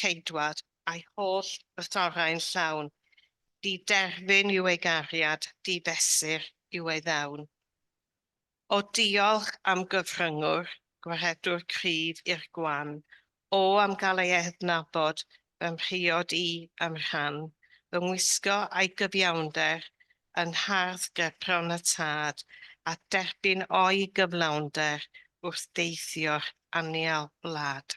Ceidwad a'i holl rythorau'n llawn, di-derfyn yw ei gariad, di-fesur yw ei ddawn. O diolch am gyfryngwr, gwaredwr cryf i'r gwan, O am gael ei ednabod, fy mhriod i, a'm rhan, Fy ngwisgo a'i gyfiawnder, yn hardd gerbron y Tad, A derbyn o'i gyflawnder, wrth deithio'r anial wlad.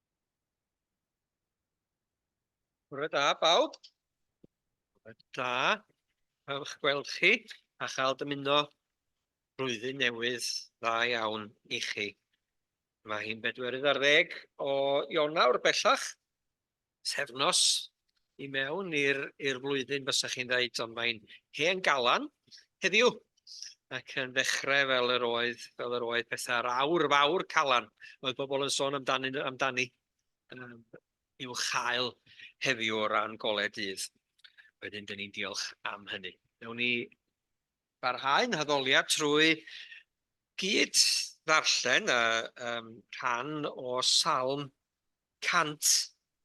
Bore da, bawb. Bore da. Ewch gweld chi a chael dymuno rwyddyn newydd dda iawn i chi. Mae hi'n bedwerydd ar ddeg o Ionawr bellach, sefnos i mewn i'r i'r flwyddyn fysa chi'n ddeud ond mae'n hen galan heddiw ac yn ddechrau fel yr oedd fel yr oedd pethau'r awr fawr calan oedd bobl yn sôn amdani amdani um, i'w chael heddiw o ran gole dydd. Wedyn dyn ni'n diolch am hynny. Newn ni barhau'n haddoliad trwy gyd ddarllen a um, rhan o Salm 100,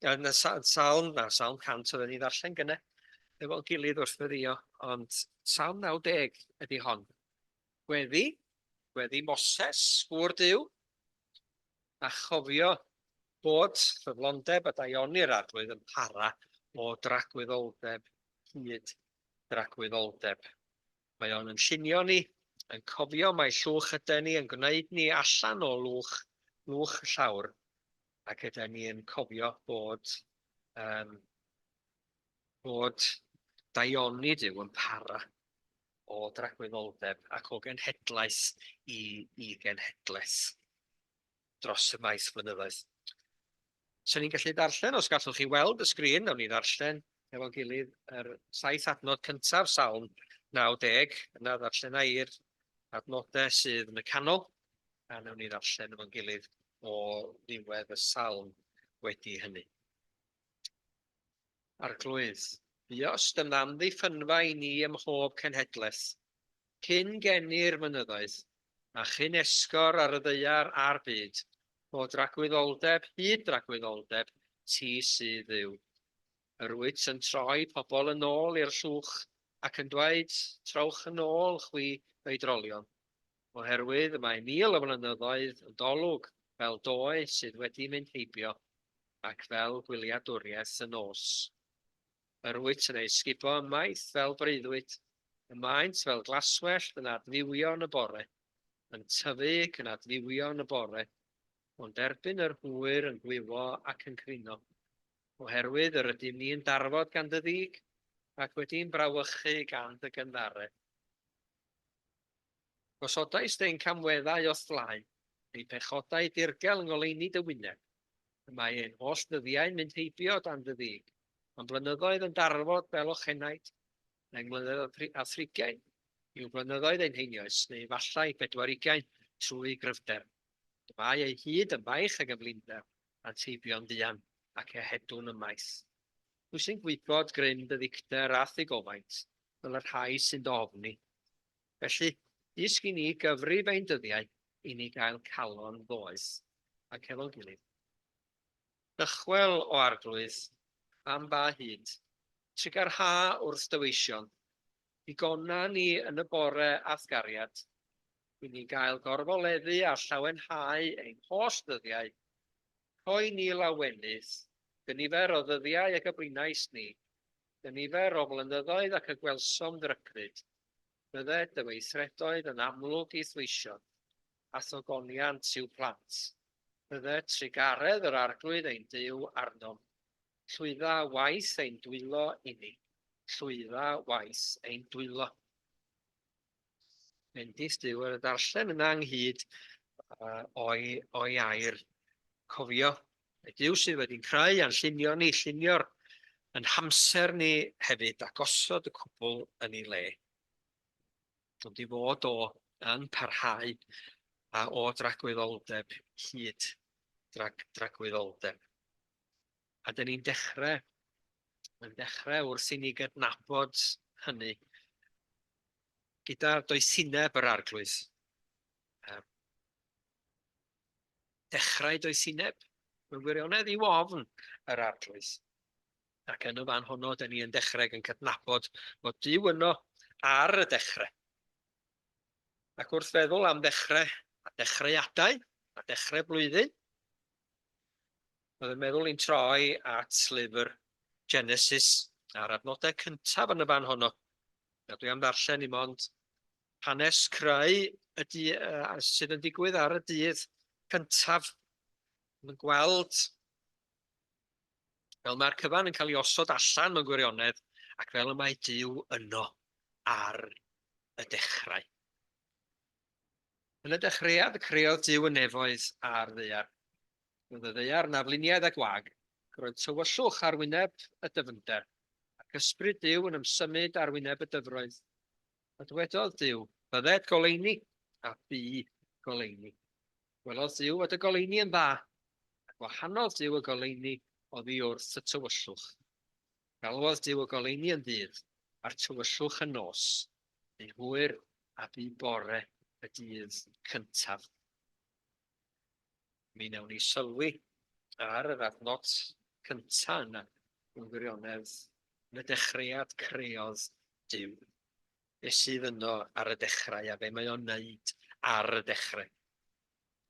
oedd 'na sa- sawl, na, sawl 100 oedden ni'n ddarllen gynne, efo'n gilydd wrth weddïo, ond Salm 90 ydi hon. Gweddi, gweddi Moses, gŵr Duw, a chofio bod ffyddlondeb a daioni'r arglwydd yn para o dragwyddoldeb hyd dragwyddoldeb. Mae o'n yn llunio ni, yn cofio mai llwch yden ni, yn gwneud ni allan o lwch, lwch y llawr, ac yden ni yn cofio bod, um, bod daioni Dyw yn para o dragwyddoldeb ac o genhedlaeth i, i genhedlaeth. dros y maes flynyddoedd. Swn i'n gallu darllen, os gallwch chi weld y sgrin, nawn ni ddarllen efo'n gilydd yr saith adnod cyntaf, Salm 90, yna ddarllena i'r adnodau sydd yn y canol, a nawn ni ddarllen efo'n gilydd o ddiwedd y salm wedi hynny. Arglwydd, buos dy amddiffynfa i ni ym mhob cenhedlaeth, cyn geni'r mynyddoedd, a chyn esgor ar y ddaear a'r byd, o dragwyddoldeb hyd dragwyddoldeb, ti sydd Dduw. Yr wyt yn troi pobl yn ôl i'r llwch, ac yn dweud, Trowch yn ôl, chwi oedrolion. oherwydd mae mil o flynyddoedd yn dolwg fel doe sydd wedi mynd heibio ac fel gwyliadwriaeth y nos. Yr wyt yn ei sgubo ymaith fel breuddwyd, y maent fel glaswellt yn adfywio'n y bore, yn tyfu ac yn adfywio'n y bore, ond erbyn yr hwyr yn gwywo ac yn crino, oherwydd yr ydym ni yn darfod gan dy ddig, ac wedi'n brawychu gan dy gynddare. Gosodais deng camweddau o'th flaen, neu pechodau dirgel 'ngoleuni dy wyneb. Y mae ein holl ddyddiau'n mynd heibio dan dy ddug, a'n blynyddoedd yn darfod fel ochenaid, neu mlynedd a thrigiain yw blynyddoedd ein heinioes, neu efallai bedwarigiain trwy gryfder. Y mae eu hyd yn faich ag yn flinder, a'nt heibio'n fuan, ac ehedwn ymaith. Pwy sy'n gwybod gryn dy ddicter a'th ddigofaint, fel y rhai sy'n dy ofni? Felly, dysg i ni gyfrif ein dyddiau i ni gael calon ddoeth ac efo'n gilydd. Dychwel o Arglwydd, am ba hyd? Trigâr ha wrth dy weision. Digona ni yn y bore a'th gariad, i ni gael gorfoleddu a llawenhau ein holl ddyddiau. Rhoi ni lawenydd, dy nifer o ddyddiau y gybrinais ni, Y nifer o flynyddoedd ac y gwelsom ddrygfyd, bydde dy weithredoedd yn amlwg i thweision, a thogoniant i'w plant. Bydde trugaredd yr Arglwydd ein Duw arnom, llwydda waith ein dwylo inni, llwydda waith ein dwylo. Bendith Duw ar y darllen yna ynghyd uh, o'i, o'i air. Cofio, y Duw sydd wedi'n creu a'n llunio ni, llunio'r yn hamser ni hefyd a gosod y cwbl yn ei le. Ond i fod o yn parhau a o dragwyddoldeb hyd drag, dragwyddoldeb. A dan ni'n dechrau, yn dechrau wrth i ni gydnabod hynny gyda doethineb yr Arglwydd. Um, dechrau doethineb mewn gwirionedd i ofn yr Arglwydd. Ac yn y fan honno, da ni yn dechrau yn cydnabod bod Dyw yno ar y dechrau. Ac wrth feddwl am ddechrau, a dechreuadau, a dechrau blwyddyn, Oedd yn meddwl i'n troi at lyfr Genesis a'r adnodau cyntaf yn y fan honno. A dwi am ddarllen i mond hanes creu y du, uh, sydd yn digwydd ar y dydd cyntaf. Mae'n gweld fel mae'r cyfan yn cael ei osod allan mewn gwirionedd ac fel y mae Dyw yno ar y dechrau. Yn y dechreuad y creodd Duw y nefoedd a'r ddaear. Roedd y ddaear yn afluniaidd a gwag, ac roedd tywyllwch ar wyneb y dyfnder, ac ysbryd Duw yn ymsymud ar wyneb y dyfroedd. A dwedodd Duw, Bydded goleuni, a bu goleuni. Gwelodd Duw fod y goleuni yn dda, a gwahanodd Duw y goleuni oddi wrth y tywyllwch. Galwodd Duw y goleuni yn ddydd, a'r tywyllwch yn nos. Bu hwyr a bu bore y dydd cyntaf. Mi wnawn ni sylwi ar yr adnod cyntaf yna yn gwirionedd yn y dechreuad creodd Duw. Be sydd yno ar y dechrau a be mae o'n wneud ar y dechrau.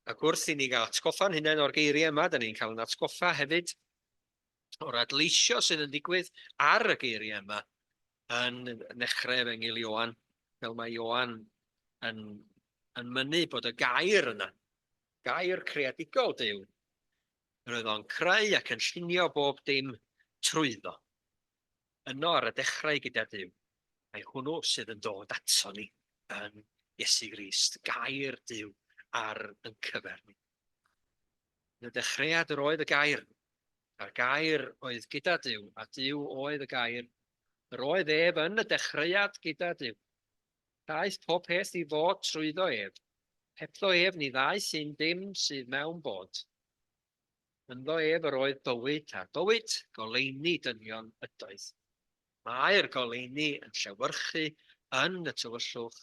Ac wrth i ni gael atgoffa'n hunain o'r geiriau yma, da ni'n cael yn atgoffa hefyd o'r adleisio sydd yn digwydd ar y geiriau yma yn nechrau efengyl Ioan, fel mae Ioan yn, yn mynnu bod y gair yna, gair creadigol Dyw, yr oedd o'n creu ac yn llunio bob dim trwyddo. Yno ar y dechrau gyda Dyw, mae hwnnw sydd yn dod ato ni yn Iesu Grist, gair Dyw ar yn cyfer ni. Yn y dechreuad yr oedd y gair, a'r gair oedd gyda Dyw, a Dyw oedd y gair. Yr oedd ef yn y dechreuad gyda Dyw. Daeth pob peth i fod trwyddo ef. Hebddo ef ni ddaeth un dim sydd mewn bod. Ynddo ef yr oedd bywyd, a'r bywyd goleini dynion ydoedd. Mae'r goleini yn llewyrchu yn y tywyllwch,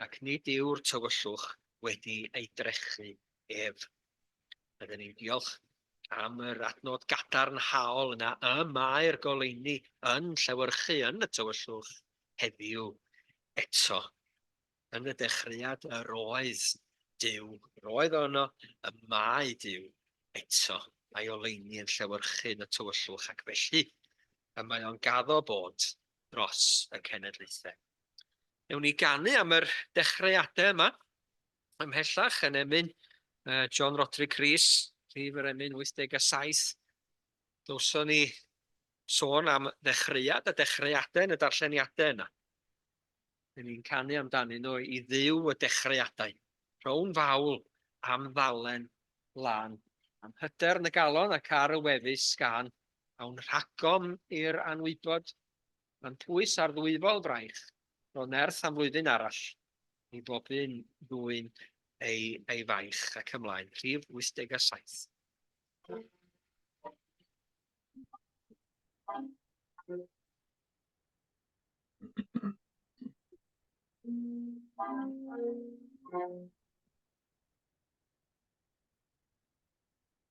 ac nid yw'r tywyllwch wedi ei drechu ef. Rydyn ni'n diolch am yr adnod gadarnhaol yna y mae'r goleuni yn llewyrchu yn y tywyllwch heddiw eto. Yn y dechreuad yr oedd Duw, yr oedd o yno, y mae Duw eto. Mae oleuni yn llewyrchu yn y tywyllwch ac felly y mae o'n gaddo bod dros y cenedlaethau. Ewn ni ganu am yr dechreuadau yma, ymhellach yn emyn uh, John Roderick Rees, rhif yr emyn 87. Dylson ni sôn am ddechreuad a dechreuadau yn y darlleniadau yna. Dyn ni'n canu amdanyn nhw i ddiw y dechreuadau. Rhown fawl am ddalen lan am hyder yn y galon ac ar y wefus gan awn rhagom i'r anwybod, mae'n pwys ar ddwyfol fraich, ro nerth am flwyddyn arall, i bob un ddwyn ei, ei faich ac ymlaen, rhif 87.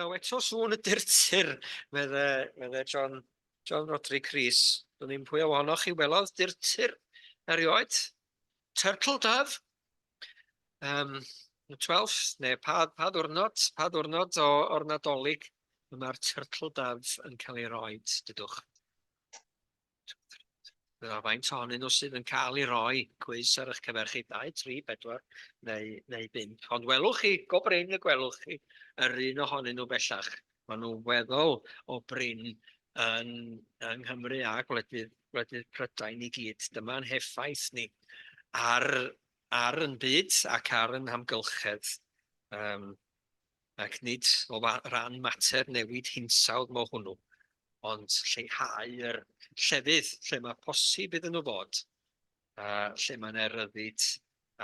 Naw eto sŵn y dirtir, medd e, medd e John, John Rodri Cris. Dwi'n ddim pwy o ohonoch chi welodd dirtir erioed. Turtle Dove. Um, 12th, neu pa, pa ddwrnod, pa ddwrnod o, o'r nadolig y mae'r Turtle Dove yn cael ei roed, dydwch. Dyna faint ohonyn nhw sydd yn cael ei roi cwis ar eich cyfer chi, 2, 3, 4 neu, neu 5. Ond welwch chi, go brin y gwelwch chi, yr un ohonyn nhw bellach. Maen nhw weddol o brin yn, yng Nghymru a gwledydd, gwledydd Prydain i gyd. Dyma'n heffaith ni ar, ar yn byd ac ar yn hamgylchedd. Um, ac nid o ran mater newid hinsawdd mo hwnnw, ond lleihau yr llefydd lle mae posib iddyn nhw fod, a lle mae yna ryddid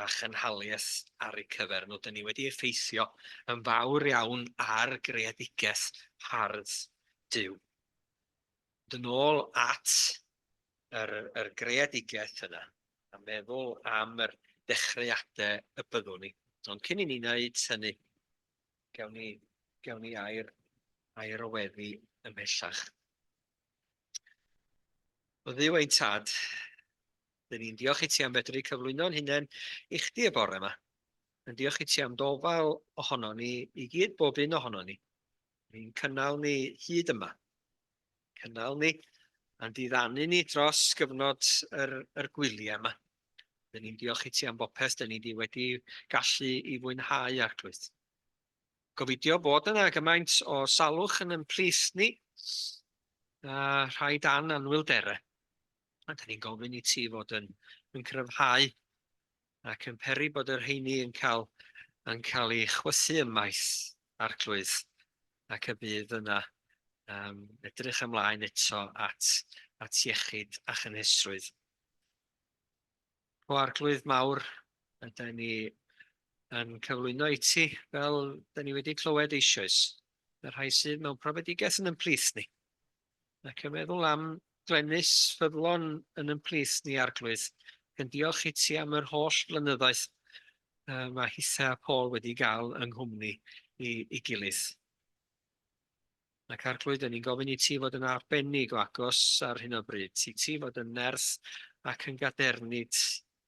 a chynhaliaeth ar eu cyfer nhw. Dyn ni wedi effeithio yn fawr iawn ar greadigaeth hardd Duw. mynd yn ôl at yr, yr greadigaeth yna, a meddwl am yr dechreuadau y byddwn ni. Ond cyn i ni wneud hynny, gewn ni, gewn ni air, air o weddi ymhellach. O ddiw ein tad, dyn ni'n diolch i ti am fedru cyflwyno'n hunain i chdi y bore yma. Yn diolch i ti am dofal ohono ni i gyd, bob un ohono ni. Mae'n cynnal ni hyd yma. Cynnal ni a'n diddanu ni dros gyfnod yr, yr gwyliau yma. Dyn ni'n diolch i ti am bopeth, dyn ni wedi gallu i fwynhau arglwydd. Gofidio bod yna gymaint o salwch yn ymplith ni, a rhai dan anwylderau. A dyn ni'n gofyn i ti fod yn, yn cryfhau ac yn peri bod yr heini yn cael, yn cael ei chwythu ymaith Arglwydd, ac y bydd yna. Um, edrych ymlaen eto at, at iechyd a chynhesrwydd. O Arglwydd mawr, ydy ni yn cyflwyno i ti, fel ydy ni wedi clywed eisoes, y rhai sydd mewn profedigaeth yn ymplith ni. Ac yn meddwl am Glenys ffyddlon yn yn plith ni Arglwydd, ac yn diolch i ti am yr holl flynyddoedd uh, mae Hitha a Paul wedi gael yng nghwmni i, i gilydd. Ac Arglwydd, yn ni'n gofyn i ti fod yn arbennig o agos ar hyn o bryd, i ti fod yn nerth ac yn gadernid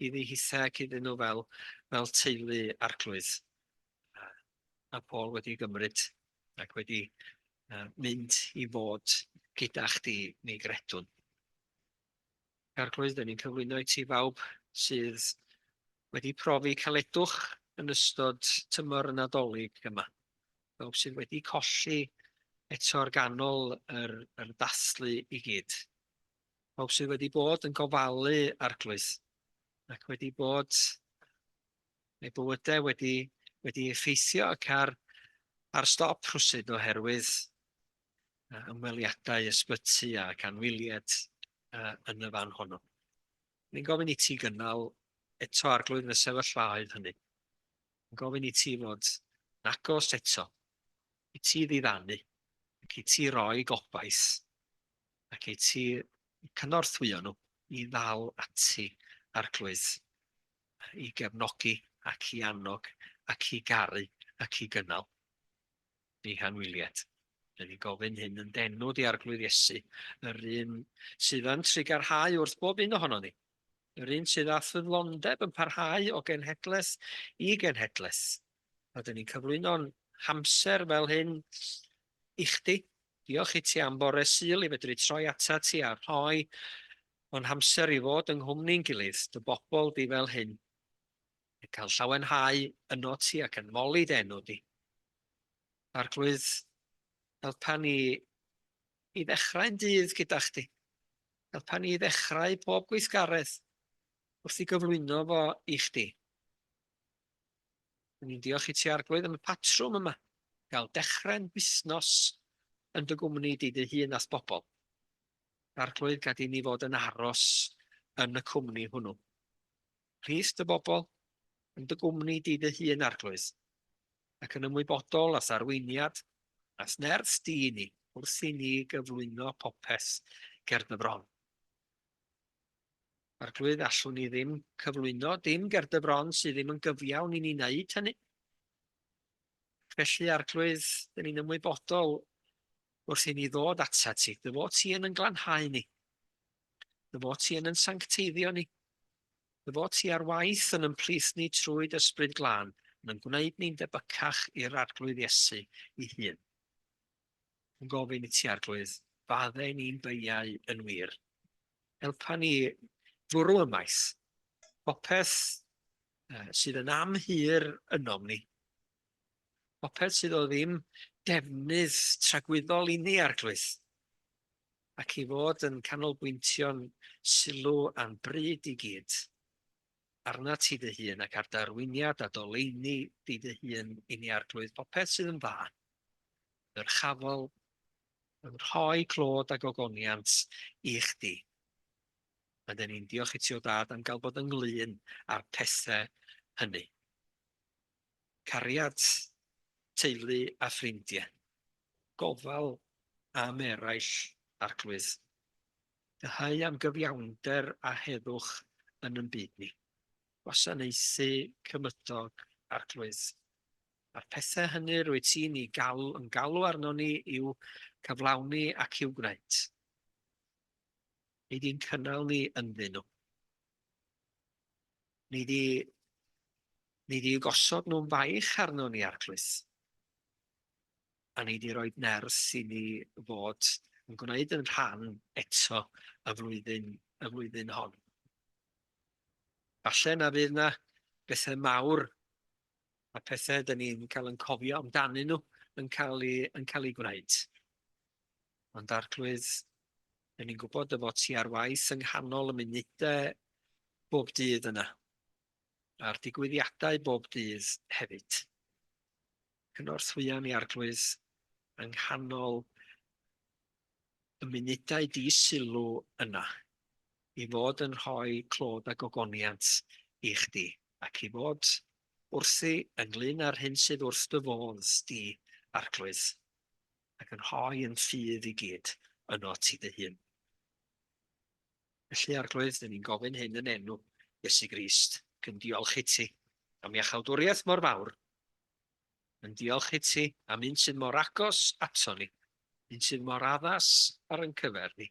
iddi hitha ac iddyn nhw fel, fel teulu arglwydd. A Paul wedi gymryd ac wedi mynd i fod gyda chdi, mi gredwn. Arglwydd, dyn ni'n cyflwyno i ti fawb sydd wedi profi caledwch yn ystod tymor y Nadolig yma. Fawb sydd wedi colli eto ar ganol yr, yr dathlu i gyd. Fawb sydd wedi bod yn gofalu arglwydd ac wedi bod neu bywydau wedi wedi effeithio ac ar ar stop rhwsyd oherwydd uh, ymweliadau ysbyty ac anwyliad uh, yn y fan honno. Ni'n gofyn i ti gynnal eto arglwydd yn y sefyllfaoedd hynny. Ni'n gofyn i ti fod yn agos eto, i ti ddiddannu, ac i ti roi gobaith, ac i ti cynorthwyo nhw i ddal ati arglwydd. i gefnogi ac i annog ac i garu ac i gynnal. Eich anwyliad. Dyn ni'n gofyn hyn yn denw di arglwydd Iesu, yr un sydd yn trigarhau wrth bob un ohono ni, yr un sydd â ffyddlondeb yn parhau o genhedlaeth i genhedlaeth, a dyn ni'n cyflwyno'n hamser fel hyn i chdi. Diolch i ti am bore Sul i fedru troi atat ti a rhoi o'n hamser i fod yng nghwmni'n gilydd, dy bobl di fel hyn, yn cael llawenhau ynot ti ac yn moli dy enw di. Arglwydd, helpa ni i ddechrau'n dydd gyda chdi. Helpa ni i ddechrau pob gweithgaredd wrth i gyflwyno fo i chdi. Dw i'n diolch i ti Arglwydd am y patrwm yma, gael dechrau'n busnos yn dy gwmni di dy hun a'th bobl. Arglwydd, gad i ni fod yn aros yn y cwmni hwnnw. Rhys dy bobl yn dy gwmni di dy hun Arglwydd, ac yn ymwybodol a'th arweiniad, a'th nerth di i ni, wrth i ni gyflwyno popeth ger dy fron. Arglwydd, allwn ni ddim cyflwyno dim ger dy fron sydd ddim yn gyfiawn i ni wneud hynny. Felly, Arglwydd, dyn ni'n ymwybodol wrth i ni ddod ata ti. Dy fod ti yn yn glanhau ni. Dy fod ti yn yn sancteiddio ni. Dy fod ti ar waith yn ymplith ni trwy dysbryd glân, yn yn gwneud ni'n debycach i'r Arglwydd Iesu i hun. yn gofyn i ti Arglwydd, fadde ni'n beiau yn wir. Helpa ni fwrw y maes. Popeth uh, sydd yn amhir ynom ni. Popeth sydd o ddim defnydd tragwyddol i ni Arglwydd. Ac i fod yn canolbwyntio'n sylw a'n bryd i gyd arnat ti dy hun ac ar dy arweiniad a doleini di dy hun i ni Arglwydd popeth sydd yn dda, ddyrchafol, yn rhoi clod a gogoniant i chdi. Mae dyn ni'n diolch i ti o dad am gael bod ynglyn â'r pethau hynny. Cariad, teulu a ffrindiau, gofal am eraill, arglwydd, Dyheu am gyfiawnder a heddwch yn yn byd ni. Gwasanaethu cymydog Arglwydd. A'r pethau hynny rwyt ti'n i galw, yn galw arno ni i'w cyflawni ac i'w gwneud. Nid i'n cynnal ni ynddyn nhw. Nid i, nid i gosod nhw'n faich arno ni, Arglwydd. a nei di roid nerth i ni fod yn gwneud yn rhan eto y flwyddyn, y flwyddyn hon. Falle na fydd na bethau mawr a pethau dyn ni'n cael yn cofio amdanyn nhw yn cael ei, yn cael ei gwneud. Ond arglwydd, dyn ni'n gwybod y fod ti ar waith yng nghanol y munudau bob dydd yna, a'r digwyddiadau bob dydd hefyd. Cynorthwyon i Arglwydd yng nghanol y munudau di-sylw yna, i fod yn rhoi clod a gogoniant i Chdi, ac i fod wrthi ynglŷn â'r hyn sydd wrth Dy fodd Di, Arglwydd, ac yn rhoi yn ffydd i gyd yno Ti Dy Hun. Felly, Arglwydd, dyn ni'n gofyn hyn yn enw Iesu Grist, ac yn diolch i Ti am Iachawdwriaeth mor fawr, Yn diolch i ti am un sydd mor agos ato ni, un sydd mor addas ar yn cyfer ni,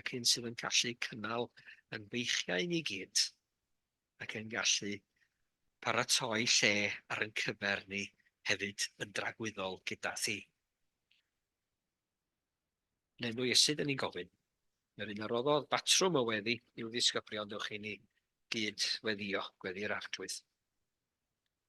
ac un sydd yn gallu cynnal yn feichiau ni gyd, ac yn gallu paratoi lle ar yn cyfer ni hefyd yn dragwyddol gyda thi. Yn enw Iesu dyn ni'n gofyn, yr un a roddodd batrwm o weddi i'w ddisgyblion dewch i ni gyd weddio, gweddi'r arglwydd.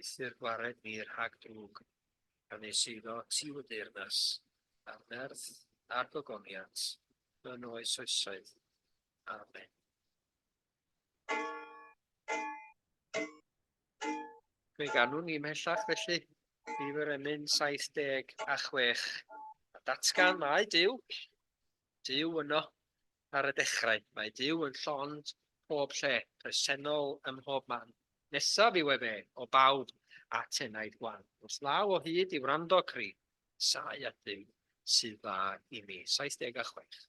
Eithr gwared fi rhag drwg, pan nes eiddo tiu y deyrnas, a'r nerth a'r gogoniant yn oes oesoedd. Amen. Fe ganwn ni mhellach felly, Nifer emyn 76, a datgan mae Dyw, Duw yno. Ar y dechrau, mae Duw yn llond pob lle, presennol ym mhob man. Nesaf yw efe o bawb at enaid gwan, wrth law o hyd i wrando cri, Sae at Dduw sydd dda i mi. 76.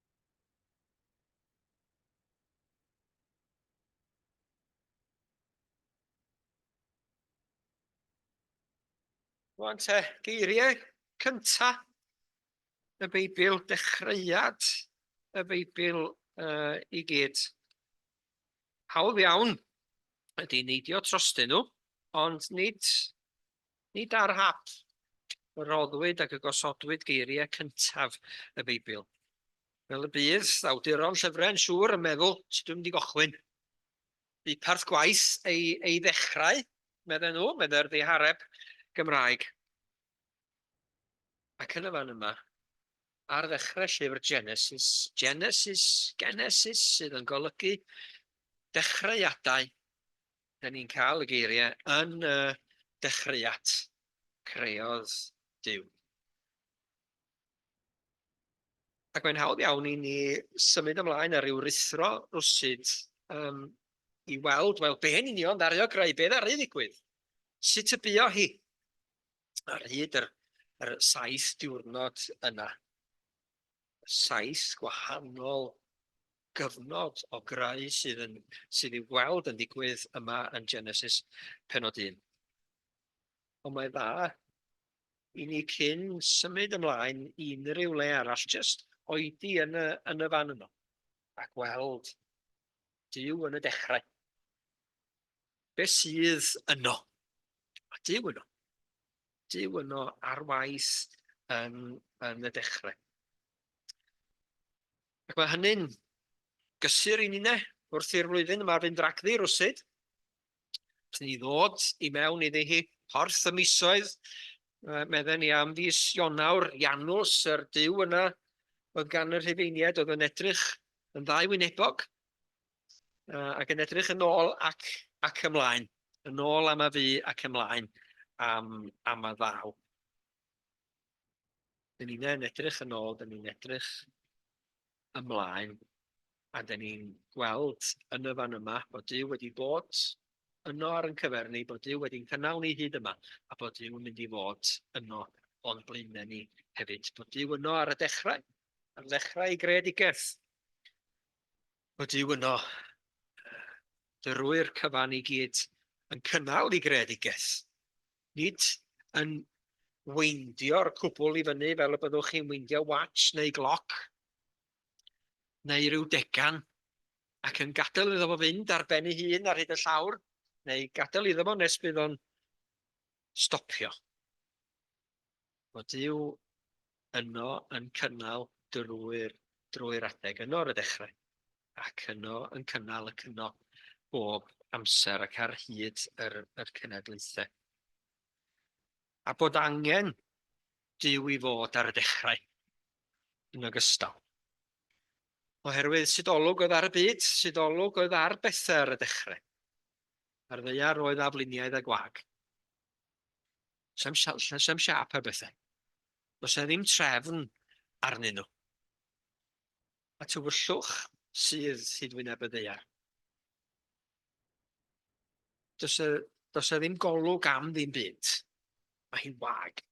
Rwan te, geiriau cynta y Beibl, dechreuad y Beibl uh, i gyd. Hawdd iawn ydy neidio trostyn nhw, ond nid Nid ar hap y rhoddwyd ac y gosodwyd geiriau cyntaf y Beibl. Fel y bydd awduron llyfrau yn siŵr yn meddwl, sut dwi'n mynd i gochwyn? Bu parth gwaith ei, ei ddechrau, meddyn nhw, meddai'r ddihareb Gymraeg. Ac yn y fan yma, ar ddechrau llyfr Genesis, Genesis, Genesis sydd yn golygu dechreuadau, Dan ni'n cael y geiriau yn y dechreuad, creodd Duw. Ac mae'n hawdd iawn i ni symud ymlaen ar ryw rithro rwsyd um, i weld, wel, be yn union ddario greu, be ddaru ddigwydd, sut y buo hi ar hyd yr, yr saith diwrnod yna. Saith gwahanol gyfnod o greu sydd yn... sydd i'w gweld yn digwydd yma yn Genesis penod 1. Ond mae'n dda i ni cyn symud ymlaen i unrhyw le arall, jyst oedi yn y, yn y fan yno, a gweld Dyw yn y dechrau. Be sydd yno? Mae Dyw yno. Dyw yno ar waith yn, yn y dechrau. Ac mae hynny'n gysur i ninne wrth i'r flwyddyn yma fynd ragddi rwsud. Os ni ddod i mewn iddi hi porth y misoedd, medden ni am fis Ionawr, Janws, yr dyw yna oedd gan y Rhufeiniaid oedd yn edrych yn ddau wynebog ac yn edrych yn ôl ac, ac ymlaen, yn ôl am y fu ac ymlaen am, am y ddaw. Dyn ni'n yn edrych yn ôl, dyn ni'n edrych ymlaen, a dyn ni'n gweld yn y fan yma bod Duw wedi bod yno ar yn cyfer ni, bod Duw wedi'n cynnal ni hyd yma, a bod Duw yn mynd i fod yno o'n blaenau ni hefyd. Bod Duw yno ar y dechrau, ar ddechrau ei greadigaeth. Bod Duw yno drwy'r cyfan i gyd yn cynnal ei greadigaeth. nid yn weindio'r cwbl i fyny fel y byddwch chi'n weindio watch neu gloc neu ryw degan ac yn gadael iddo fo fynd ar ben ei hun ar hyd y llawr neu gadael iddo fo nes bydd o'n stopio. Mae Duw yno yn cynnal drwy'r drwy'r adeg yno ar y dechrau, ac yno yn cynnal ac yno bob amser ac ar hyd yr, yr cenedlaethau. A bod angen Duw i fod ar y dechrau yn ogystal. Oherwydd sydd olwg oedd ar y byd, sydd olwg oedd ar bethau ar y dechrau. Ar ddeiar oedd afluniaidd a gwag. Sa'm siap, sa'm, sa'm siap ar bethau. Does yna ddim trefn arnyn nhw. A tywyllwch sydd hyd wyneb y ddaear. Does yna, does yna ddim golwg am ddim byd. Mae hi'n wag.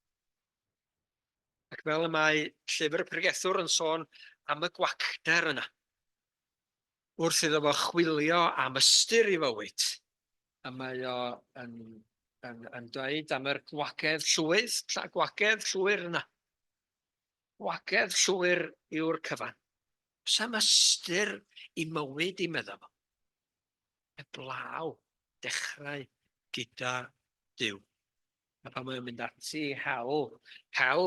Ac fel y mae llyfr y pregethwr yn sôn am y gwacter yna. wrth iddo fo chwilio am ystyr i fywyd, a mae o yn yn yn dweud am yr gwagedd llwydd, ta gwagedd llwyr yna. Gwagedd llwyr yw'r cyfan. Sam ystyr i mywyd i medda fo. Eblaw, dechrau gyda Dyw. A pan mae o'n mynd ati i hel hel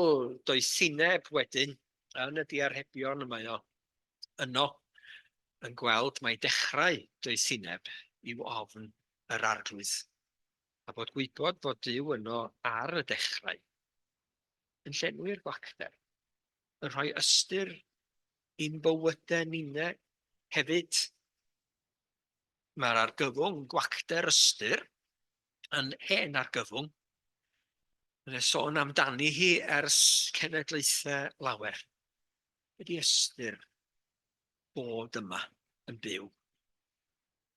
doethineb wedyn yn y diarhebion y mae o yno yn gweld mai dechrau doethineb yw ofn yr Arglwydd, a bod gwybod fod Duw yno ar y dechrau yn llenwi'r gwacter, yn rhoi ystyr i'n bywydau ninne hefyd. Mae'r argyfwng gwacter ystyr yn hen argyfwng. Mae'n sôn amdani hi ers cenedlaethau lawer. Wedi ystyr bod yma yn byw.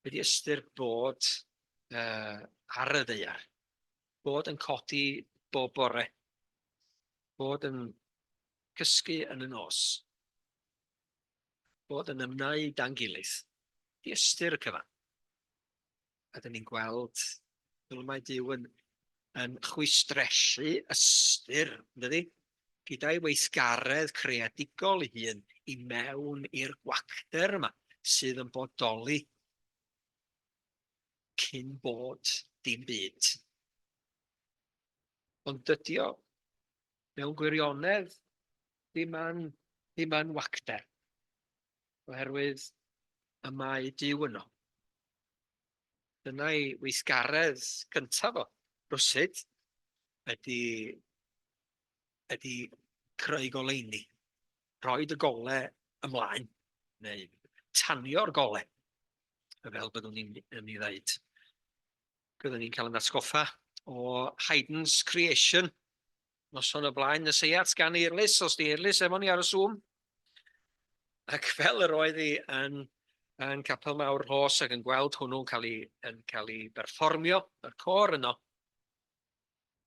Wedi ystyr bod uh, ar y ddeiar. Bod yn codi bob bore. Bod yn cysgu yn y nos. Bod yn ymwneud dan gilydd. Wedi ystyr y cyfan. a dyn ni'n gweld fel mae Duw yn yn chwistresu ystyr, yndydi? Gyda'i weithgaredd creadigol ei hun i mewn i'r gwacter yma sydd yn bodoli cyn bod dim byd. Ond dydy o mewn gwirionedd ddim yn, ddim yn wacter, oherwydd y mae Dyw yno. Dyna ei weithgaredd cyntaf o, rywsut, ydy, ydy creu goleuni, rhoi dy gole ymlaen, neu tanio'r gole, fel byddwn ni'n yn ei ddeud. Byddwn ni'n cael yn atgoffa o Haydn's Creation, Noson o blaen nes ei at gan Eirlys, os di Eirlys efo ni ar y Zoom. Ac fel yr oedd hi yn, yn Capel Mawr Rhos ac yn gweld hwnnw'n cael ei, yn cael ei berfformio, yr cor yno,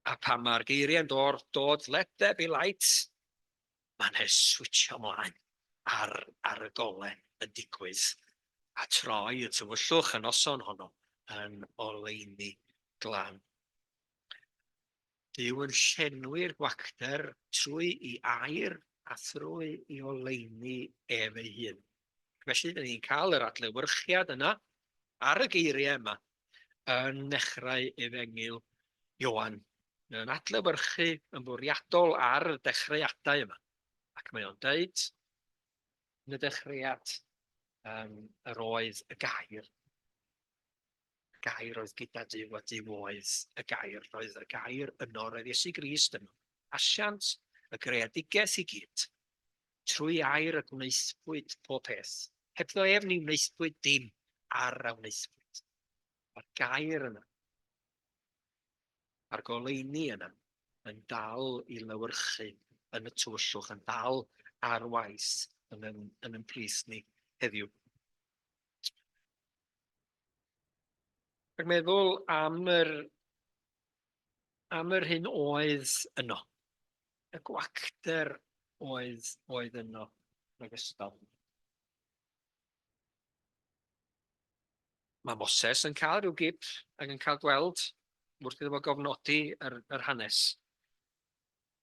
a pan mae'r geiriau'n dod, dod let there be light, mae'n he switio mlaen ar, ar y golen yn digwydd a troi y tywyllwch y noson honno yn oleini glan. Duw yn llenwi'r gwacter trwy i air a thrwy i oleuni ef ei hun. Felly, dyn ni'n cael yr adlewyrchiad yna ar y geiriau yma yn nechrau efengyl Ioan. Mae o'n adlewyrchu yn fwriadol ar y dechreuadau yma. Ac mae o'n dweud, yn y dechreuad, um, yr oedd y gair. Y Gair oedd gyda Duw a Duw oedd y Gair. Roedd y Gair yno, roedd Iesu Grist yno. Asiant y greadigaeth i gyd. Trwy air y gwnaethpwyd pob peth. Hebddo ef ni wnaethpwyd dim ar a wnaethpwyd. Mae'r Gair yno. Mae'r goleini yno yn dal i lywyrchu yn y tywyllwch, yn dal ar waith yn yn, yn ymplith ni heddiw. Ac meddwl am yr, am yr hyn oedd yno. Y gwacter oedd, oedd yno yn ogystal. Mae Moses yn cael rhyw gip ac yn cael gweld wrth iddo fo gofnodi yr, yr hanes.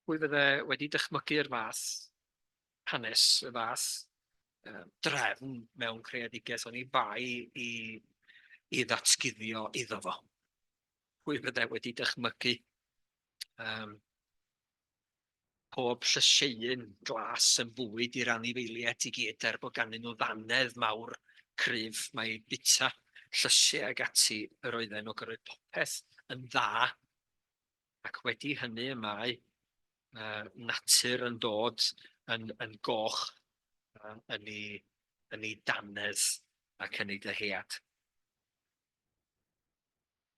Pwy fydde wedi dychmygu'r fath hanes y fath drefn mewn creadigaeth oni bai i i ddatguddio iddo fo. Pwy fydde wedi dychmygu um, pob llysieun glas yn fwyd i'r anifeiliaid i gyd er bod ganddyn nhw ddannedd mawr cryf mae bita llysiau ag ati yr oedden nhw gyrraedd popeth yn dda ac wedi hynny y mae yy natur yn dod yn yn goch yy yn ei yn ei dannedd ac yn ei dyhead.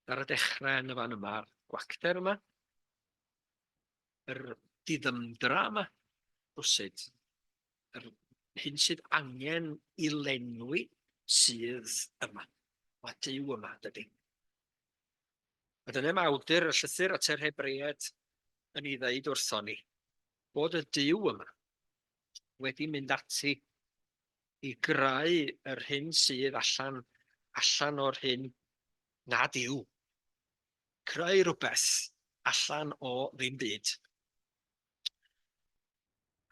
Ar y dechre yn y fan yma'r gwacter yma, yr diddymdra yma, rwsut, yr hyn sydd angen i lenwi sydd yma, mae Duw yma dydy. A dyna mae awdur y llythyr at yr Hebreaid yn ei ddeud wrthon ni, bod y Duw yma wedi mynd ati i greu yr hyn sydd allan, allan o'r hyn nad yw. Creu rhywbeth allan o ddim byd.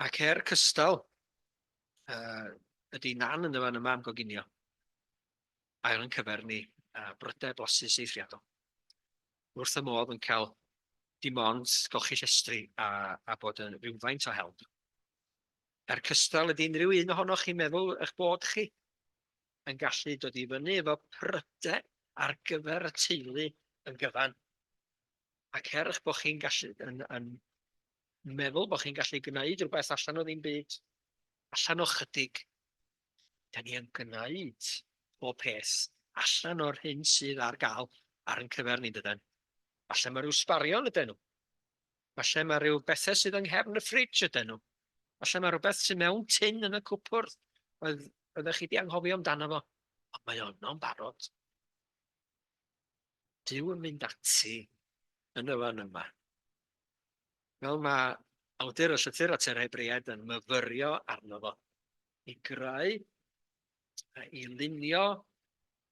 Ac er cystal, uh, ydy nan yn y fan yma am goginio. ail yn cyfernu â brydau blasus eithriadol. Dwi wrth fy modd yn cael dim ond golchi llestri a, a bod yn rhywfaint o help. Er cystal, ydy unrhyw un ohonoch chi'n meddwl eich bod chi yn gallu dod i fyny efo prydau ar gyfer y teulu yn gyfan? Ac er eich bod chi'n gallu yn, yn meddwl bod chi'n gallu gwneud rhywbeth allan o ddim byd, allan o chydig, Da ni yn gwneud pob peth allan o'r hyn sydd ar gael ar yn cyfer ni, dydan? Falle mae rhyw sbarion ydyn nhw. Falle mae rhyw bethau sydd yng nghefn y ffridge ydyn nhw. Falle mae rhywbeth sy'n mewn tin yn y cwpwrdd oedd oeddech chi wedi anghofio amdano fo, ond mae yno'n barod. Dyw yn mynd ati yn y fan yma. Fel mae awdur y llythyr at yr Hebreaid yn myfyrio arno fo, i greu a i lunio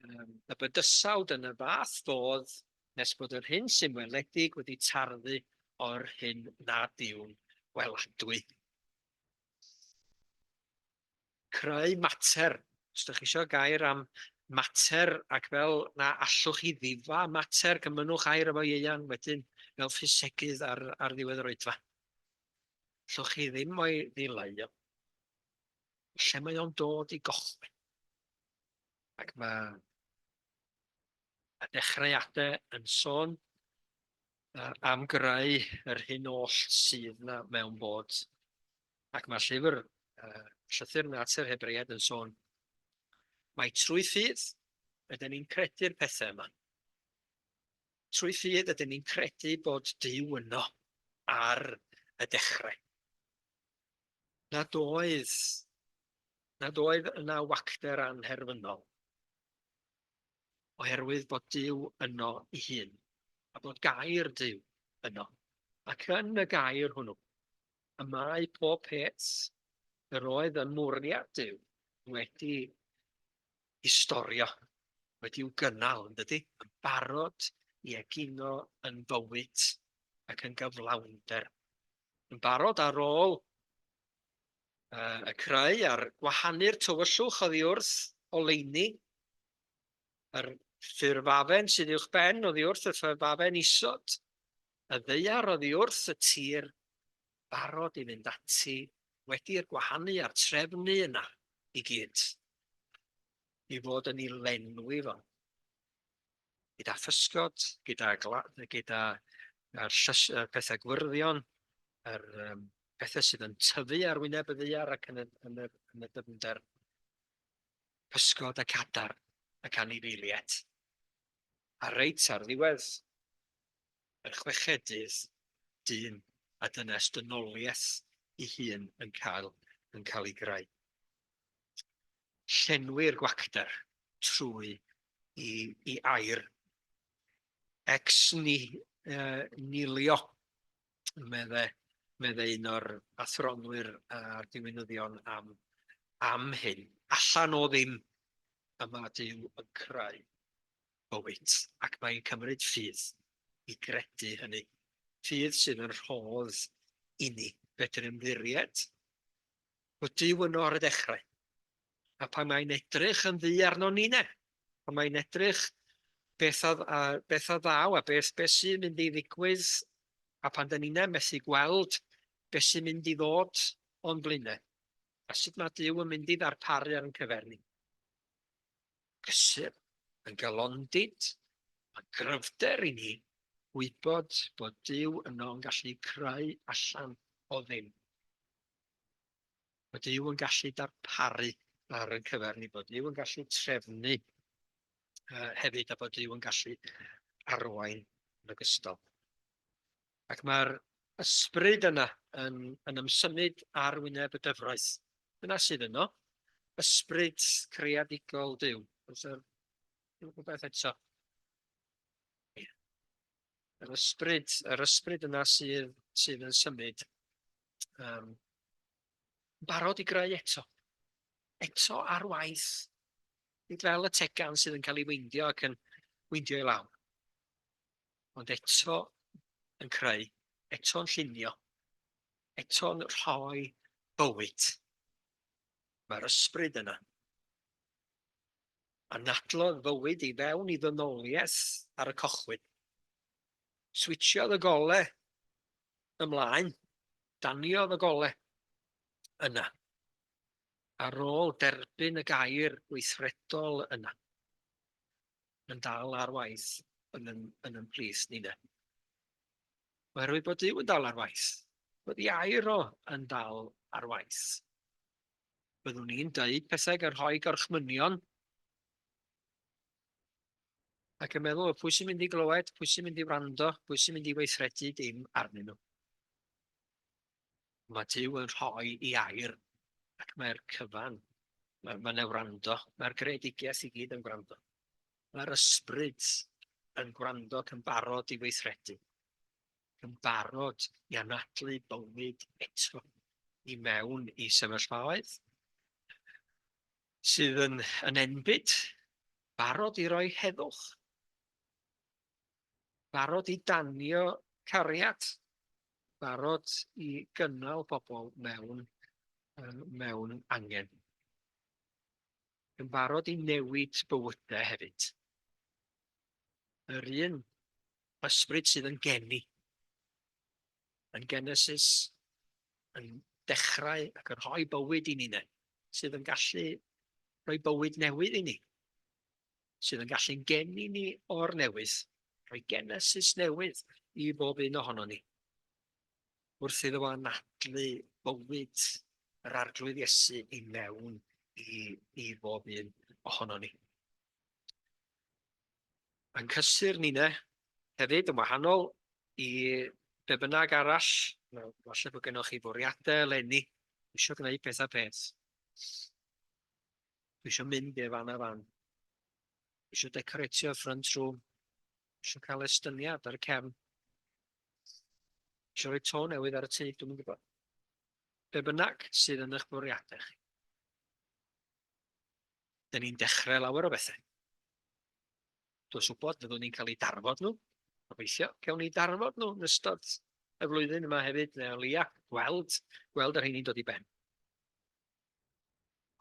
um, y bydysawd yn y fath fodd nes bod yr hyn sy'n weledig wedi tarddu o'r hyn nad yw'n weladwy. creu mater, os dych chi eisiau gair am mater ac fel na allwch chi ddifa mater, cymynnwch air efo ieuan wedyn fel ffisegydd ar, ar ddiwedd yr oedfa. Allwch chi ddim o'i ddileu o. Lle mae o'n dod i gochwyn. Ac mae y dechreuadau yn sôn am greu yr hyn oll sydd na mewn bod Ac mae'r llyfr, uh, Llythyr Natur Hebreaid yn sôn, mae trwy ffydd ydyn ni'n credu'r pethau yma. Trwy ffydd ydyn ni'n credu bod Dyw yno ar y dechrau. Nad oedd, nad oedd yna wacter anherfynol oherwydd bod Dyw yno i hun, a bod gair Dyw yno. Ac yn y gair hwnnw, y mae pob peth yr oedd yn mwriad Duw wedi i storio, wedi i'w gynnal, yn dydy, yn barod i egino yn fywyd ac yn gyflawnder, yn barod ar ôl uh, y creu a'r gwahanu'r tywyllwch oddi wrth oleini, yr ffurfafen sydd i'wch ben oddi wrth y ffurfafen isod, Y ddaear oddi wrth y tir, barod i fynd ati, wedi'r gwahanu a'r trefnu yna i gyd, i fod yn ei lenwi fo, gyda physgod, gyda gyda yr llys, y pethau gwyrddio'n, yr um, pethau sydd yn tyfu ar wyneb y ddaear ac yn y, yn y, yn y dyfnder, pysgod y cadar, y canifeiliaid. A reit ar ddiwedd, yr chweched dyn a dynes dynoliaeth i hun yn cael yn cael ei greu. Llenwi'r gwacter trwy i, i air ex ni, uh, nilio, medde, medde un o'r athronwyr a'r diwinyddion am, am hyn. Allan o ddim y mae Dyw yn creu. Wyt, ac mae'n cymryd ffydd i gredu hynny. Ffydd sydd yn rhodd i ni. Fedrwn ymddiried bod Duw yno ar y dechrau, a pan mae'n edrych yn ddu arnon ni ne, pan mae'n edrych beth a, a, beth a ddaw a beth, beth sy'n mynd i ddigwydd, a pan dyn ni'n methu gweld beth sy'n mynd i ddod o'n blaenau, a sut mae Duw yn mynd i ddarparu ar yn cyfer ni. cysur, yn galondid, a gryfder i ni wybod bod Duw yno yn gallu creu allan o ddim. Bod Duw yn gallu darparu ar y cyfer ni, bod Duw yn gallu trefnu uh, hefyd a bod Duw yn gallu arwain yn ogystal. Ac mae'r ysbryd yna yn yn ymsymud ar wyneb y gyfraith. Dyna sydd yno. Ysbryd creadigol Duw. Oes yr rhywbeth eto? Yr ysbryd, yr ysbryd yna sydd, sydd yn symud. Um, barod i greu eto. Eto ar waith. Nid fel y tegan sydd yn cael ei weindio ac yn weindio i lawr. ond eto yn creu, eto'n llunio, eto'n rhoi bywyd. Mae'r ysbryd yna. Anadlodd fywyd i fewn i ddynoliaeth ar y cochwyn. Switsiodd y gole ymlaen, daniodd y gole yna. Ar ôl derbyn y gair gweithredol yna. yn dal ar waith yn yn yn yn plith ni de. Oherwydd bod Duw yn dal ar waith, bod ei air o yn dal ar waith. Byddwn ni'n dweud pethau gan rhoi gorchmynion ac yn meddwl pwy sy'n mynd i glywed, pwy sy'n mynd i wrando, pwy sy'n mynd i weithredu dim arnyn nhw. Mae Duw yn rhoi i air ac mae'r cyfan, mae, mae yna wrando, mae'r greadigaeth i gyd yn gwrando. Mae'r ysbryd yn gwrando ac yn barod i weithredu, yn barod i anadlu bywyd eto i mewn i sefyllfaoedd sydd yn, yn enbyd, barod i roi heddwch. barod i danio cariad, barod i gynnal pobl mewn, mewn angen. Yn barod i newid bywydau hefyd. Yr un ysbryd sydd yn geni. Yn Genesis, yn dechrau ac yn rhoi bywyd i ni ne, sydd yn gallu rhoi bywyd newydd i ni. sydd yn gallu'n geni ni o'r newydd, rhoi genesis newydd i bob un ohono ni. Wrth iddo anadlu bywyd yr arglwydd Iesu i mewn i, i bob un ohono ni. Mae'n cysur ni ne, hefyd yn wahanol i be bynnag arall, falle bod gennych chi fwriadau eleni, eisiau gwneud pethau peth. Dwi eisiau mynd i'r fan a fan. Dwi eisiau decoratio'r front room. Dwi eisiau cael estyniad ar y cefn. Dwi eisiau rhoi to newydd ar y tŷ, dwi'n gwybod. Be bynnag sydd yn eich bwriadau chi. Dyn ni'n dechrau lawer o bethau. Dwi'n gwybod fyddwn ni'n cael ei darfod nhw. Gobeithio, cael ni darfod nhw yn ystod y flwyddyn yma hefyd, neu o leia, gweld, gweld yr hyn i'n dod i ben.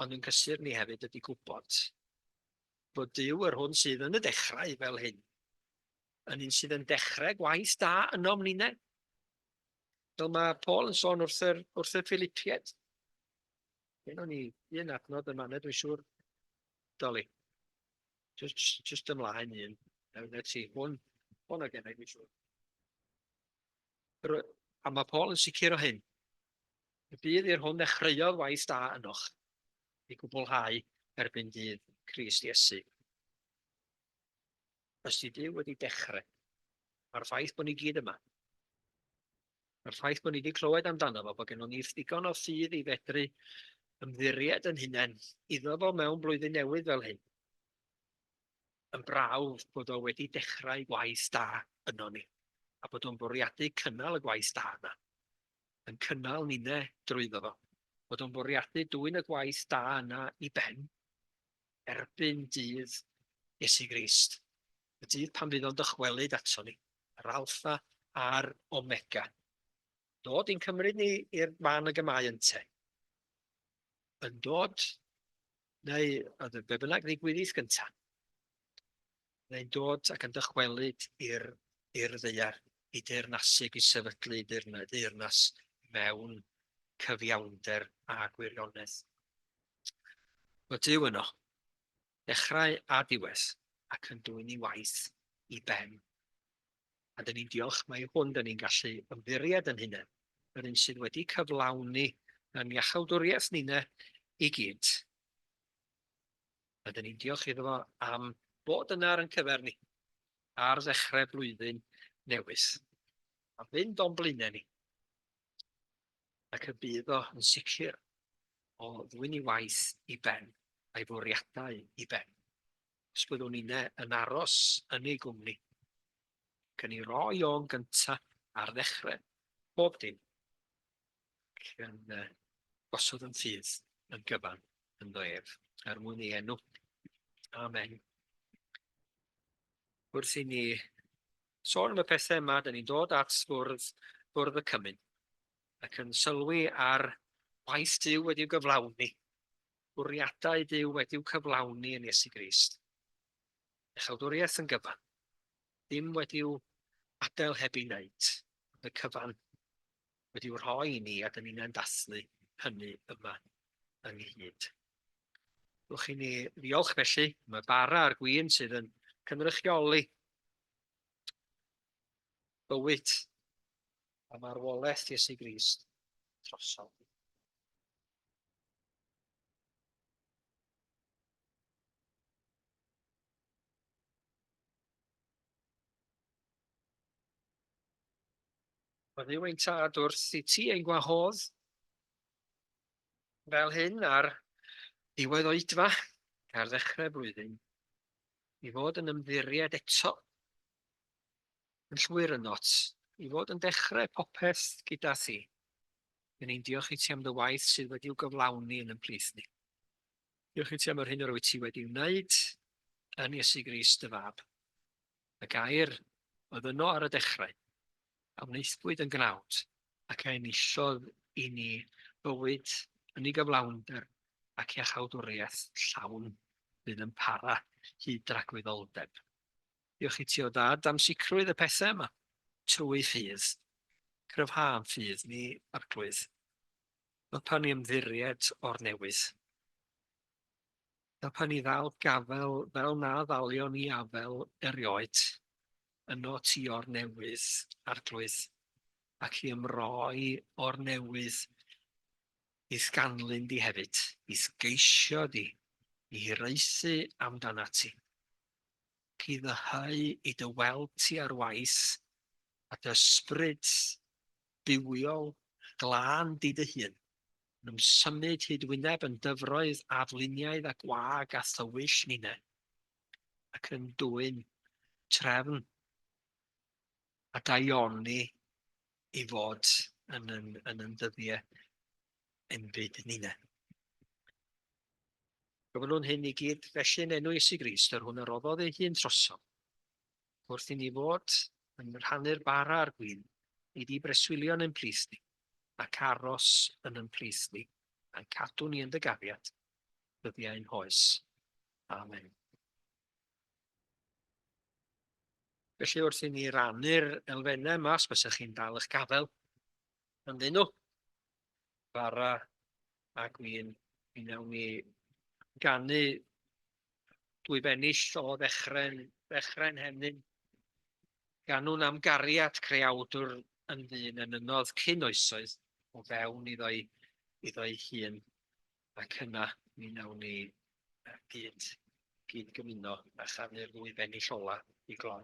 Ond yn gysur ni hefyd ydy gwybod bod Duw yr hwn sydd yn y dechrau fel hyn, yn un sydd yn dechrau gwaith da ynom ninne. Fel mae Paul yn sôn wrth yr, wrth y Philipied. Hyn o'n i un adnod yma, nid dwi'n siŵr, Doli. Just, just ymlaen un. Nawr, na ti, hwn, hwn o gennau, dwi'n siŵr. A mae Paul yn sicr o hyn. Y dydd i'r hwn ddechreuodd waith da ynoch, ei gwblhau erbyn dydd Crist Iesu. Os di Dyw wedi dechrau, mae'r ffaith bod ni gyd yma, mae'r ffaith bod ni wedi clywed amdano fo, bod gennym ni ddigon o ffydd i fedru ymddiried yn hunain iddo fo mewn blwyddyn newydd fel hyn. yn brawf bod o wedi dechrau gwaith da yno ni, a bod o'n bwriadu cynnal y gwaith da yna, yn cynnal ninne drwyddo fo, bod o'n bwriadu dwyn y gwaith da yna i ben, erbyn dydd Iesu Grist, y dydd pan fydd o'n dychwelyd ato ni, yr Alfa a'r Omega, dod i'n cymryd ni i'r fan y gemau ynte, yn dod Neu, oedd y be bynnag ddigwyddith gyntaf, neu'n dod ac yn dychwelyd i'r i'r ddeiar, i deyrnasig, i sefydlu deyrnas mewn cyfiawnder a gwirionedd. Mae Dyw yno, dechrau a diwedd, ac yn dwyn ei waith i ben a dyn ni'n diolch mai hwn dyn ni'n gallu ymddiried yn hunain, yr un sydd wedi cyflawni yn iachawdwriaeth nina i gyd. A dyn ni'n diolch iddo fo am bod yna ar yn cyfer ni ar ddechrau blwyddyn newydd. A fynd o'n blaenau ni. Ac y bydd o yn sicr o ddwy'n ei waith i ben, a'i fwriadau i ben. os byddwn inne yn aros yn ei gwmni. Ac yn ei roi o'n gynta ar ddechrau bob dim. Ac yn uh, gosod yn ffydd yn gyfan yn ddo ef, er mwyn ei enw. Amen. Wrth i ni sôn am y pethau yma, da ni'n dod at fwrdd, fwrdd y cymyn ac yn sylwi ar waith Dyw wedi'w gyflawni Bwriadau Duw wedi'w cyflawni yn Iesu Grist. Iachawdwriaeth yn gyfan. Dim wedi'w adael heb ei wneud. Ond y cyfan wedi'w rhoi i ni a dyn ni'n dathlu hynny yma ynghyd. Rwy'ch i ni ddiolch felly am y bara a'r gwyn sydd yn cynrychioli bywyd a marwolaeth Iesu Grist drosodd. Mae rhywun tad wrth i ti ein gwahodd fel hyn ar diwedd oedfa ar ddechrau blwyddyn i fod yn ymddiried eto. Yn llwyr yn ots i fod yn dechrau popeth gyda thi. Yn ein diolch i ti am dy waith sydd wedi i'w gyflawni yn yn plith ni. Diolch i ti am yr hyn yr wyt ti wedi wneud yn Iesu Grist dy fab. Y gair oedd yno ar y dechrau, a wnaethbwyd yn gnawd, ac a enillodd i ni bywyd yn ei gyflawnder ac iachawdwriaeth llawn fydd yn para hyd dragwyddoldeb. Diolch i ti o dad am sicrwydd y pethau yma. Trwy ffydd. Cryfha am ffydd ni, Arglwydd. Helpa ni ymddiried o'r newydd. Helpa ni ddal gafel fel na ddalion ni afel erioed. Yno ti o'r newydd, Arglwydd, ac i ymroi o'r newydd i'th ganlyn di hefyd, i'th geisio di, i hiraethu amdanat ti. ac i ddyheu i dy weld ti ar waith, a dy ysbryd bywiol glân di dy hun, yn ymsymud hyd wyneb yn dyfroedd afluniaidd a gwag a thywyll ninne, ac yn dwyn trefn a daioni i fod yn yn yn ddyddiau enbyd nine. Gofynwn hyn i gyd felly yn enw Iesu Grist, yr hwn a roddodd ei hun trosom, wrth i ni fod yn rhannu'r bara a'r gwyn, i di breswylio yn ein plith ni, ac aros yn ein plith ni, a'n cadw ni yn dy gafiad, dyddiau ein hoes. Amen. Felly wrth i ni rannu'r elfennau yma, os bysach chi'n dal eich gafael, ynddyn nhw. Bara a Gwyn, mi wnawn ni ganu dwy bennill o ddechrau'n ddechrau henyn. Ganwn am gariad creawdwr yn ddyn yn ynodd cyn oesoedd o fewn iddo'i, iddo'i hun. Ac yna, mi wnawn ni gyd, gyd gymuno a chanu'r ddwy bennill ola i gloi.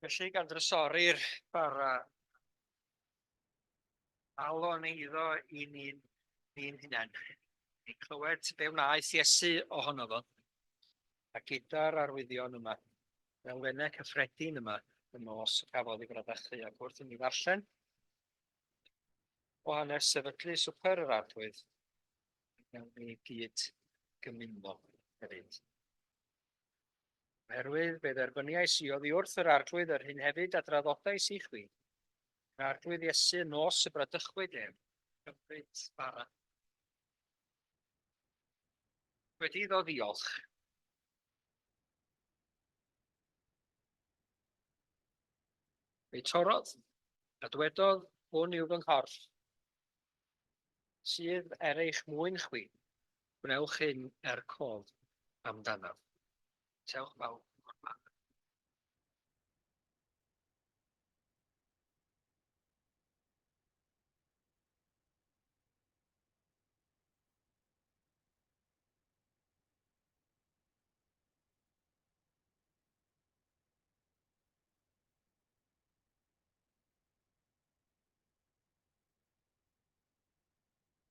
Felly, gan drysori'r bara, alon eiddo i ni'n ni'n hunain. I clywed be wnaeth Iesu ohono fo, a gyda'r arwyddion yma. elfennau cyffredin yma yn nos y cafodd ei fradychu ac wrth i ni ddarllen o hanes sefydlu Swper yr Arglwydd, mewn ni gyd gymuno hefyd. Oherwydd fe dderbyniais i oddi wrth yr Arglwydd yr hyn hefyd a draddodais i chwi. Yr Arglwydd Iesu yn nos y bradychwyd ef, cymryd bara. Wedi iddo ddiolch, Ei torodd, a dwedodd, Hwn yw fy nghorff, sydd er eich mwyn chwi, gwnewch hyn er cof amdanaf. Tewch bawb o'r man.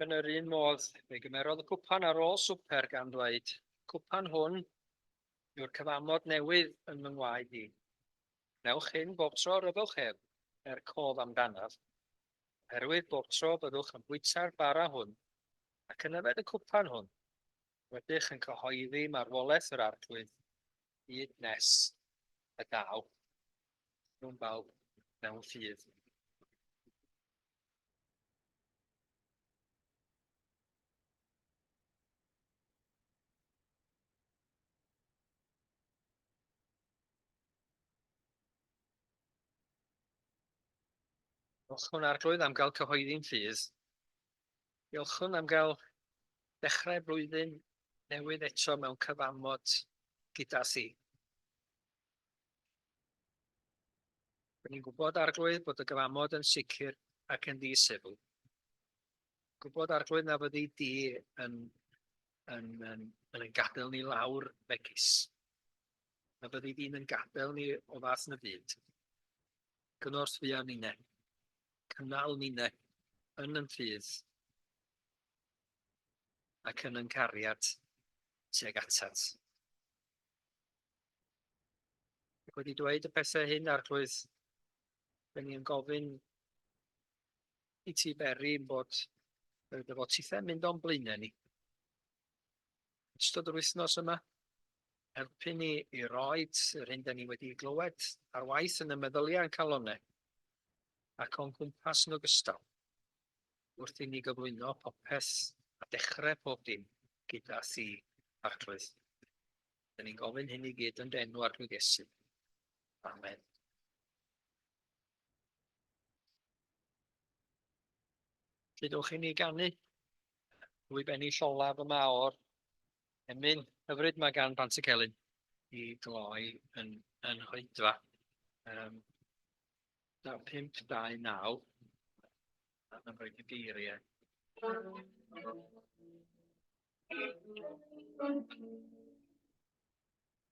Yn yr un modd, fe gymerodd y cwpan ar ôl swper gan ddweud, Cwpan hwn yw'r cyfamod newydd yn fy ngwaed i. Newch hyn bob tro ryfwch ef, er cof amdanaf, oherwydd bob tro byddwch yn bwyta'r bara hwn ac yn yfed y cwpan hwn, Rydych yn cyhoeddi marwolaeth yr Arglwydd hyd nes y daw nhw'n bawb mewn ffydd. Diolch yn Arglwydd am gael cyhoeddi'n ffydd. Diolchwn am gael dechrau blwyddyn newydd eto mewn cyfamod gyda thi. Rwy'n ni'n gwybod, Arglwydd, bod y gyfamod yn sicr ac yn ddisefl. Gwybod, Arglwydd, na fyddi di yn, yn, yn, yn, yn gadael ni lawr megis. Na fyddi di'n yn gadael ni o fath na byd. Gynorth fi am unne. Cynnal ninne yn yn ffydd, ac yn yn cariad tuag atat. Ac wedi dweud y pethau hyn, Arglwydd, da ni yn gofyn i ti beri yn bod y dyfodtithau mynd o'n blaenau ni. yn ystod yr wythnos yma, helpu ni i roi yr hyn da ni wedi glywed ar waith yn y meddyliau a'n calonnau ac o'n cwmpas yn ogystal, wrth i ni gyflwyno popeth a dechrau pob dim gyda Thi, Arglwydd. Da ni'n gofyn hyn i gyd yn dy enw, Arglwydd Iesu. Amen. Lle dewch i ni ganu? Rwyf ennill olaf y maor. Emyn, hyfryd mae gan Bant y Celyn i gloi yn, yn hoedfa. Um, 5-2-9 yn rhoi y geiriau.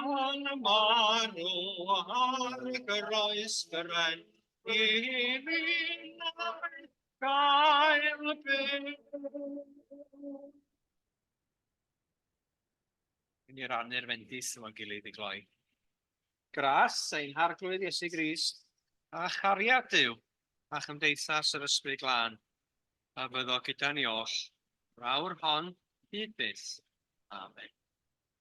Yn y marw ar y groes gyrraedd i fi'n gael byw. Yn i rannu'r fendith yma'n gilydd i gloi. Gras ein harglwydd Iesu Grist, a chariad Dyw, a chymdeithas yr ysbryd glân, a fyddo gyda ni oll, rawr hon hyd byth. Amen.